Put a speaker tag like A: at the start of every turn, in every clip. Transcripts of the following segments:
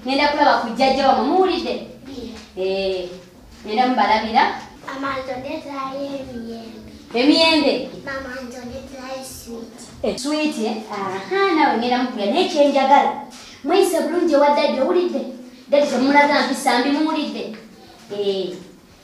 A: ngenda kulaba ku jjajja wamwe muwulidde eh, ngenda mubalabira emiyembe switi eh, nawe ngenda mukuya naye kyenjagala mweyise bulungi ewa dadi owulidde dadi temulaga mpisa mbi muwulidde eh.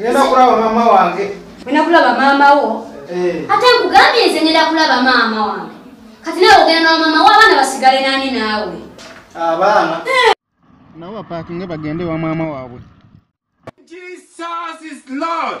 A: Ngenda
B: kulaba mama wange. Ngenda kulaba mama
A: wo. Eh. Ate nkugambye nze ngenda kulaba mama wange. Kati nawe ogenda na mama wo abaana basigale nani naawe. Abaana.
B: Eh. Nawe bapaakinge bagende wa mama waabwe. Jesus is Lord.